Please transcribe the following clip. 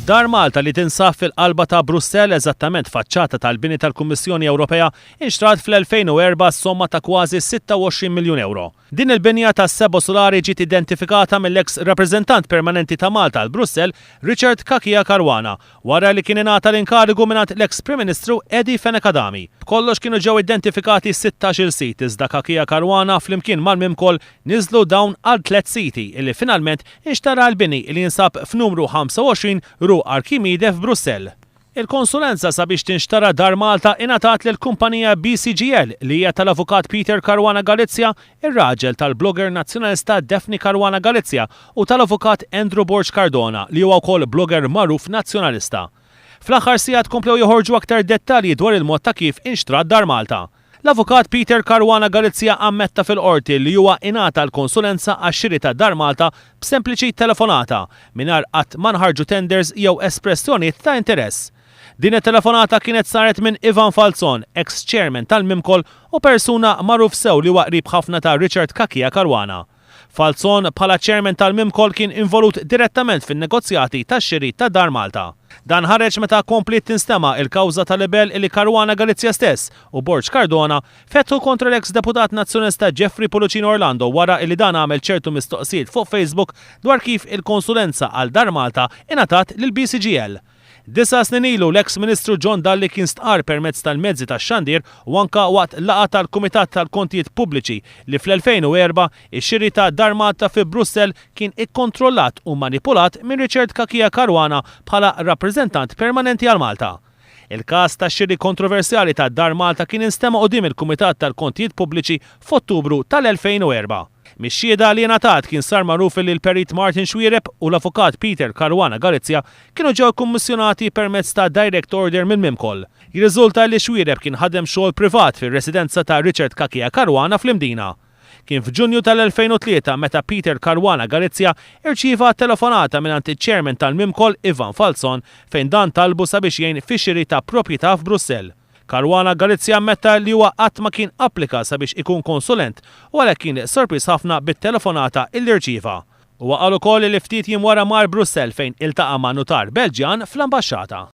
Dar Malta li tinsab fil-qalba ta' Brussell, eżattament faċċata tal-bini tal-Kummissjoni Ewropea, inxtrat fl-2004 somma ta' kważi 26 miljun ewro. Din il-binja tas-sebo sulari ġiet identifikata mill-eks Rappreżentant Permanenti ta' Malta għal Brussell, Richard Cachia Caruana, Wara li kien ingħata l-inkarigu mingħand l-eks Prim Ministru Eddie Fenech Adami, b'kollox kienu ġew identifikati sittax-il sit iżda Kakia Caruana flimkien mal-Mimcol niżlu dawn għal tliet siti li finalment inxtara l-bini li jinsab f'numru 25 Rue Archimide f'Brussell. Il-konsulenza sabiex tinxtara Dar Malta ingħatat lill-kumpanija BCGL li hija tal-Avukat Peter Caruana Galizia ir-raġel tal-blogger Nazzjonalista Daphne Caruana Galizia u tal-Avukat Andrew Borg Cardona li huwa wkoll blogger magħruf Nazzjonalista. Fl-aħħar sigħat komplew joħorġu aktar dettalji dwar il-mod ta' kif inxtrat Dar Malta. L-Avukat Peter Caruana Galizia ammetta fil-Qorti li huwa ingħata l-konsulenza għax-xiri ta' Dar Malta b'sempliċi telefonata, mingħajr qatt ma nħarġu tenders jew espressjonijiet ta' interess. Din it-telefonata kienet saret minn Ivan Falzon, eks Chairman tal-Mimkol u persuna magħruf sew li huwa qrib ħafna ta' Richard Cachia Caruana. Falzon bħala Chairman tal-Mimkol kien involut direttament fin-negozjati tax-xiri ta' Dar Malta. Dan ħareġ meta kompliet tinstema' il-kawża ta' libell li Caruana Galizia stess u Borg Cardona fetħu kontra l-eks Deputat Nazzjonalista Jeffrey Pulucino Orlando wara li dan għamel ċertu mistoqsijiet fuq Facebook dwar kif il-konsulenza għal Dar Malta ingħatat lill-BCGL. Disa' snin ilu, l-eks Ministru John Dalli kien stqarr permezz tal-mezzi tax-xandir u anke waqt laqgħa tal-Kumitat tal-Kontijiet Pubbliċi li fl-2004 ix-xiri ta' Dar Malta fi Brussell kien ikkontrollat u manipulat minn Richard Cachia Caruana bħala Rappreżentant Permanenti għal Malta. Il-każ tax-xiri kontroversjali ta' Dar Malta kien instema' quddiem il-Kumitat tal-Kontijiet Pubbliċi f'Ottubru tal-2004. Mix-xhieda li ingħatat kien sar magħruf li l-Perit Martin Xuereb u l-Avukat Peter Caruana Galizia kienu ġew ikkummissjonati permezz ta' direct order minn Mimcoll. Jirriżulta li Xuereb kien ħadem xogħol privat fir-residenza ta' Richard Cachia Caruana fl-Imdina. Kien f'Ġunju tal-2003 meta Peter Caruana Galizia irċieva telefonata mingħand iċ-Chairman tal-Mimcoll Ivan Falzon fejn dan talbu sabiex jgħin fix-xiri ta' propjità f'Brussell. Caruana Galizia ammetta li huwa qatt ma kien applika sabiex ikun konsulent u għalhekk kien sorpriż ħafna bit-telefonata illi rċieva. Huwa qal ukoll li ftit jiem wara mar Brussell fejn iltaqa' ma' nutar Belġjan fl-Ambaxxata.